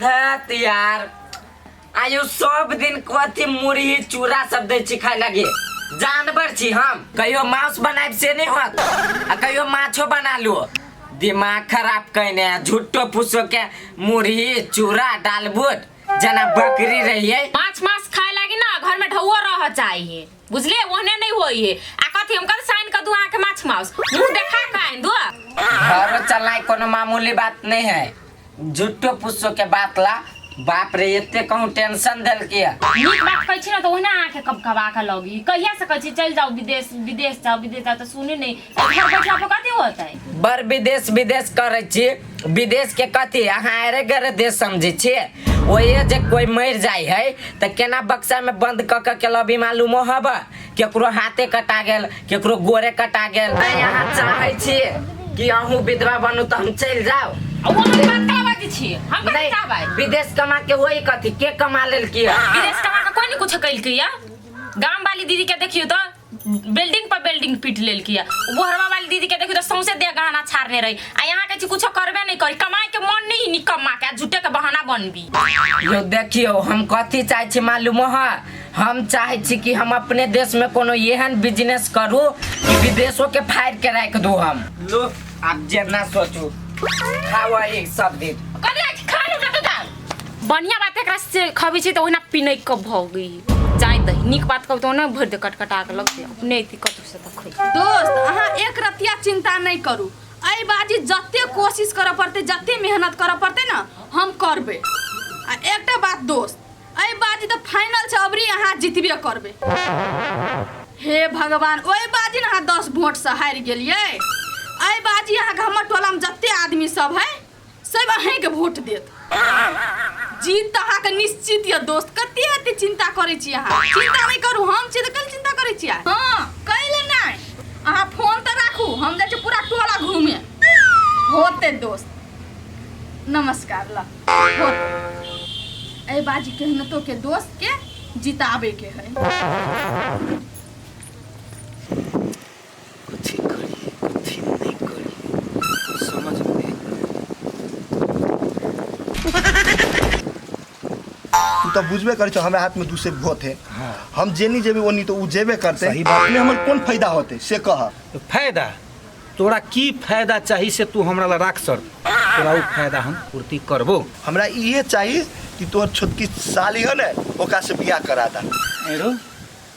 धत यार आयु सब दिन कथी मुरही चूड़ा सब दै छी खाय लगे जानवर छी हम कहियो मांस बनाएब से नहीं होत आ कहियो माछो बना लो दिमाग खराब कइने झुट्टो फुसो के मुरही चूड़ा डालबुट जना बकरी रहिए माछ मांस खाए लागी ना घर में ढौआ रह चाहिए बुझले ओहने नहीं होई है आ कथी हम कल साइन कर दू आके माछ माउस मुंह देखा काइन दो घरो चलना ही कोनो मामूली बात नहीं है झूठो पुस्सो के बात ला बाप रे एते कहूँ टेंशन दिल के नीक बात कहै छी ना तो ओहने आके कब कबा के लगी कहिया से कहै छी चल जाओ विदेश विदेश जाओ विदेश जाओ तो सुने नहीं तो घर बैठला पर कथी होतै बर विदेश विदेश करै छी विदेश के कथी अहाँ अरे गरे देश समझै छियै ओहे जे कोई मरि जाइ है तऽ केना बक्सा में बंद कऽ कऽ के लबी मालूमो हब केकरो हाथे कटा गेल केकरो गोरे कटा गेल आइ अहाँ चाहै छियै कि अहूँ विधवा बनू तऽ हम चलि जाउ आ वो हम बात कला बाजी छी हम कथी नहि चाहबै विदेश कमा के होई कथी के कमा लेलकी है विदेश कमा के कोई नहीं कुछ कैलकै या गाम वाली दीदी के देखियो तो बिल्डिंग पर बिल्डिंग पीट लेल किया गोहरवा वाली दीदी के देखी तो सौंसे दे गहना छाड़ने रही आ यहाँ के कुछ करबे नहीं करी कमाए के मन नहीं नी कमा के झूठे के बहाना बनबी यो देखियो हम कथी चाहे छी मालूम है हम चाहे छी कि हम अपने देश में कोनो एहन बिजनेस करू कि विदेशों के फाड़ के रख दू हम लो आप जेना सोचू खाओ एक सब दिन कभी आज खा लो ना तो दाल बढ़िया बात है खबी छी तो ओहिना पिनई कब भगी जाय दही नीक बात कहू तो ना भरि दे कटकटा के लगते अपने अथी कतहु से तक खोज दोस्त अहाँ एक रतिया चिंता नहीं करू एहि बाजी जते कोशिश करऽ पड़तै जते मेहनत करऽ पड़तै ने हम करबै आ एकटा बात दोस्त एहि बाजी तऽ फाइनल छै अबरी अहाँ जितबे करबै हे भगवान ओहि बाजी ने अहाँ दस वोटसँ हारि गेलियै एहि बाजी अहाँके हमर टोलामे जते आदमी सब है सब अहेंके वोट देत जीत तऽ अहाँके निश्चित यऽ दोस्त कते एते चिंता करै छी अहाँ चिंता नहि करू हम छी तऽ कल चिंता करै छी अहाँ हँ कैले नहि अहाँ फोन तऽ राखू हम जाइ छी पूरा टोला घूमे होते दोस्त नमस्कार ल होते एहि बाजी केहनतो के दोस्त के जिताबे के है कथी करी कथी नहि करी समझमे नहि तू तऽ बुझबे करै छौ हमरा हाथमे दू से भोत है हाँ। हम जेनी जेबे ओनी तो उ जेबे करते सही बात। अपने हमर कोन फायदा होते से कह आबैत। फायदा तोरा की फायदा चाही से तू हमरा ला राख सर तोरा ओ फायदा हम पूर्ति करबो हमरा इहे चाहिए कि तोहर छोटकी साली है ने ओकरा से बियाह करा दा एरो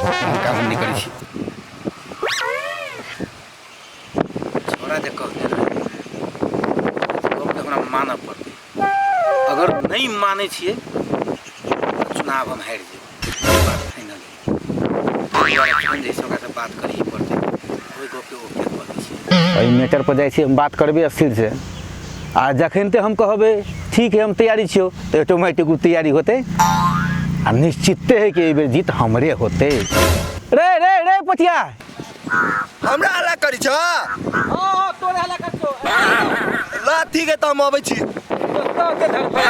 काम नहीं करी छी छोरा जे कहते ना हमरा मानऽ पड़तै अगर नहीं माने छियै चुनाव हम हारि जेबै बात फाइनल है जैसे ओकरा बात करिए पड़तै एहि मैटर पर जाइ छी हम बात करबै स्थिर से आ जखन ते हम कहबै ठीक है हम तैयारी छियो तो ऑटोमेटिक ओ तैयारी होते आ निश्चिते है कि एहि बेर जीत हमरे होते रे रे रे पतिया हमरा हल्ला करी छ हाँ तोरे हला कर तो ला ठीक है तो हम अबै छी तो के धर पर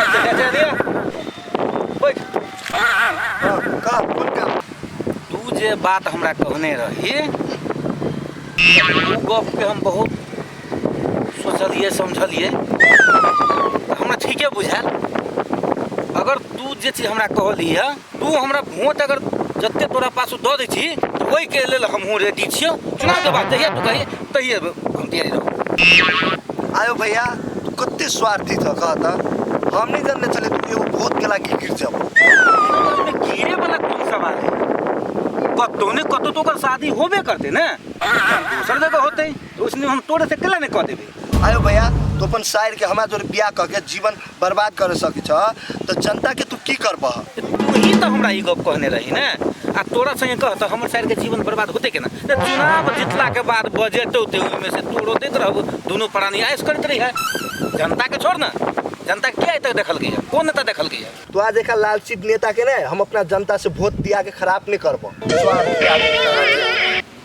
बैठ तू जे बात हमरा कहने रही ओ गपके हम बहुत सोचलिए समझलिए हमरा ठीके बुझायल अगर तू जे चीज हमरा कहली है तू हमरा वोट अगर जते तोरा पास दऽ दै छी तऽ ओहिके लेल हमहूँ रेडी छियौ चुनाव के बाद जहिया तू कही तहिए घुमतिया रहो आयो भैया तू कते स्वार्थी था कहा था हम नहीं जानने चले तू एगो भूत के लागी गिर जाबो अपने गिरे वाला कोन सवाल है कतो ने कतो तो ओकर शादी होबे करते ना दूसर जगह होते तो उसने हम तोरे से केला ने कह देबे आयो भैया तो अपन शायर के हमारा जोरे बियाह कह के जीवन बर्बाद कर सके छ तो जनता के तू की करब तू ही तो हमरा ई गप कहने रही ना आ तोरा संगे कह तो हमर साइड के जीवन बर्बाद होते के ना ते चुनाव जीतला के बाद बजट होते ओहिमे से तोरो देत रहबो दुनू प्राणी आयस करत रही है जनता के छोड़ ना जनता के आइ तक देखल गई है कौन नेता देखल गई है तोरा देखा लालची नेता के ने हम अपना जनता से वोट दिया के खराब नहीं करब स्वार्थ त्याग के कारण।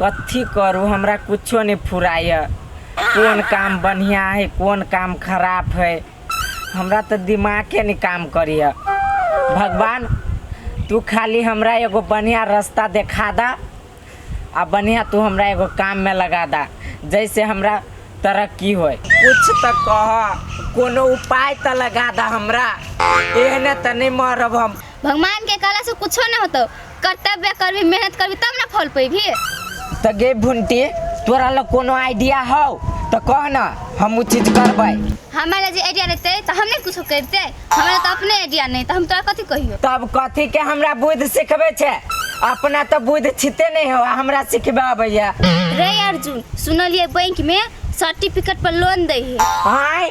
कथी करू हमरा कुछो नहि फुराइए कोन काम बढ़िआँ हइ कोन काम खराब हइ हमरा तऽ दिमागे नहि काम करैए भगवान तू खाली हमरा एगो बढ़िआँ रस्ता देखा दऽ आ बढ़िआँ तू हमरा एगो काममे लगा दऽ जैसे हमरा तरक्की होय कुछ तऽ कह कोनो उपाय तऽ लगा दऽ हमरा एहने तऽ नहि मरब हम भगवान के कहला से कुछो न होतो कर्तव्य करबी मेहनत करबी तब ना फल पैबी त गे भुंटी तोरा लग कोनो आइडिया हौ त कह न हम उ चीज करबै हमरा लग जे आइडिया रहते तो हम नहीं कुछो करते हमरा लग तो अपने आइडिया नहीं तो हम तोरा कथी कहियो तब कथी के हमरा बुद्धि सिखबै छै अपना त बुद्धि छिते नहि हो आ हमरा सिखबे अबैया रे अर्जुन सुनलिए बैंक में सर्टिफिकेट पर लोन दे है आय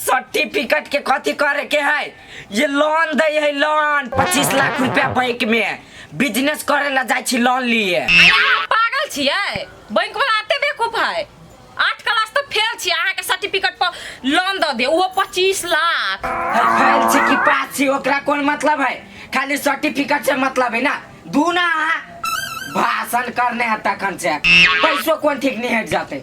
सर्टिफिकेट के कथी करे के है ये लोन दे है लोन पच्चीस लाख रुपया बैंक में बिजनेस करे ला जाए छी लोन लिए अरे अहाँ पागल छियै बैंक वाला एते बेवकूफ है आठ क्लास तक फेल छियै अहाँके सर्टिफिकेट पर लोन दऽ दे ओहो पच्चीस लाख है फैल छी कि पास छी ओकरा कोन मतलब है खाली सर्टिफिकेट से मतलब है ना दू ना अहाँ भाषण करने है तखन से पैसो कोन ठीक नहीं हट जाते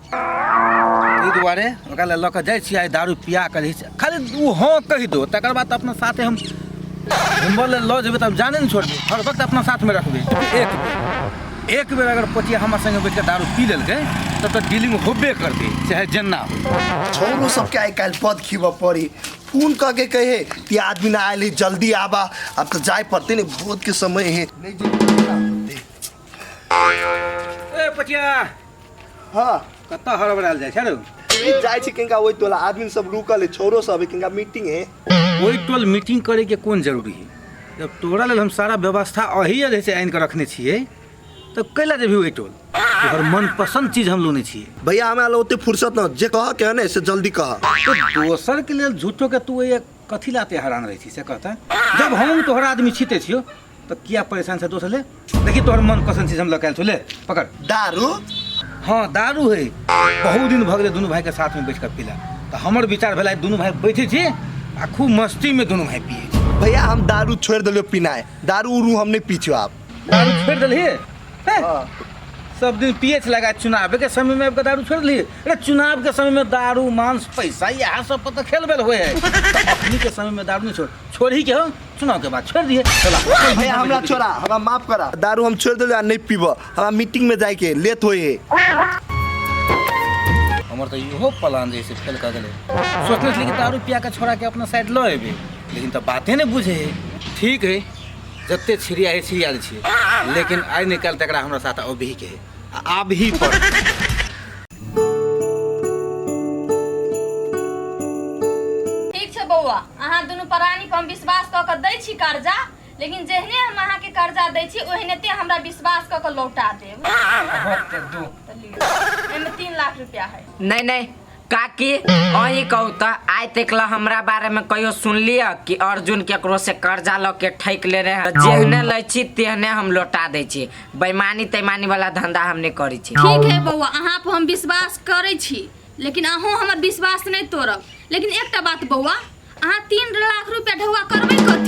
ताहि दुआरे ओकरा लए लऽ कऽ जाइ छियै आइ दारू पिया कऽ रहै छै खाली ओ हँ कहि दो तकर बाद तऽ अपना साथे हम घुमबऽ लए लऽ जेबै तब जाने ने छोड़बै हर वक्त अपना साथमे रखबै एक बेर एक बेर अगर पतिया हमर संगे बैठ कऽ दारू पी लेलकै तब तऽ डीलिंग होबे करतै चाहे जेना हो छोरू सबके आइ काल्हि पद खीबऽ पड़ी फोन कऽ के कहे कि आदमी ना आयल है जल्दी आबा अब तो जाय पड़ते ने भोज के समय है ए पटिया हाँ कत्ता हड़बड़ायल जाइ छै रे ई जाइ छै किनका ओहि टोला आदमी सब रुकल है छोरो सब है किनका मीटिंग है ओहि टोल मीटिंग करे के कोन जरूरी है जब तोरा लेल हम सारा व्यवस्था अही अरे से आनि के रखने छियै तब कैला जेबही ओहि टोल तोहर मन पसंद चीज हम लोने छियै भैया हमरा लग ओते फुर्सत न जे कह के है ने से जल्दी कह तो दोसर के लेल झूठो के तू ये कथी ला ते हैरान रहै छी से कहता जब हम तोहर आदमी छी ते छियो तो किया परेशान से दोसर ले देखी तोहर मन पसंद चीज हम लकायल छो ले पकड़ दारू हाँ दारू है बहुत दिन भगले दोनों भाई के साथ में बैठ कर पीला तो हमर विचार भेला दोनों भाई बैठे छी आ खूब मस्ती में दोनों भाई पिए छी भैया हम दारू छोड़ दिलो पीनाए दारू उरू हम नहीं पीछो आप दारू छोड़ि देलही हँ। सब दिन पिए छला आ चुनाव के समय मे आबि कऽ दारू छोड़ि देलही अरे चुनाव के समय मे दारू मांस पैसा इएह सब पर तऽ खेल बेल होइ है अखनी के समय मे दारू नहि छोड़ छोड़ही के हो चुनाव के बाद छोड़ि दिहे चला भैया हमरा छोड़ा हमरा माफ करा दारू हम छोड़ देलू आ नहीं पीबऽ हमरा मीटिंग में जाए के लेट होए है हमर तऽ इहो प्लान जे से फेल कऽ गेलै सोचने छलियै कि दारू पिया कऽ छोड़ा के अपना साइड लऽ एबै लेकिन तऽ बाते नहि बुझे है ठीक है जते छिड़िया है छिड़िया दै छियै लेकिन आइ नहि काल्हि तकरा हमरा साथ अभी के है आ आबही पर ठीक छै बौआ अहाँ दुनू प्राणी पर हम विश्वास कऽ कऽ दै छी कर्जा लेकिन जेहने हम अहाँके कर्जा दै छी ओहने ते हमरा विश्वास कऽ कऽ लौटा देब तऽ लिअ। एहिमे तीन लाख रुपया है नहि नहि काकी अही कहू त आइ तक ला हमरा बारे में कहियो सुनलिय कि अर्जुन केकरो से कर्जा ल के ठैक ले रहे हैं। जेहने लै छी तेहने हम लौटा दै छी बेईमानी तैमानी वाला धंधा हम नहीं करी छी ठीक है बौआ अहाँ पर हम विश्वास करै छी लेकिन अहूँ हमर विश्वास नहि तोड़ब लेकिन एकटा बात बौआ अहाँ तीन लाख रुपया ढौआ करबै कथी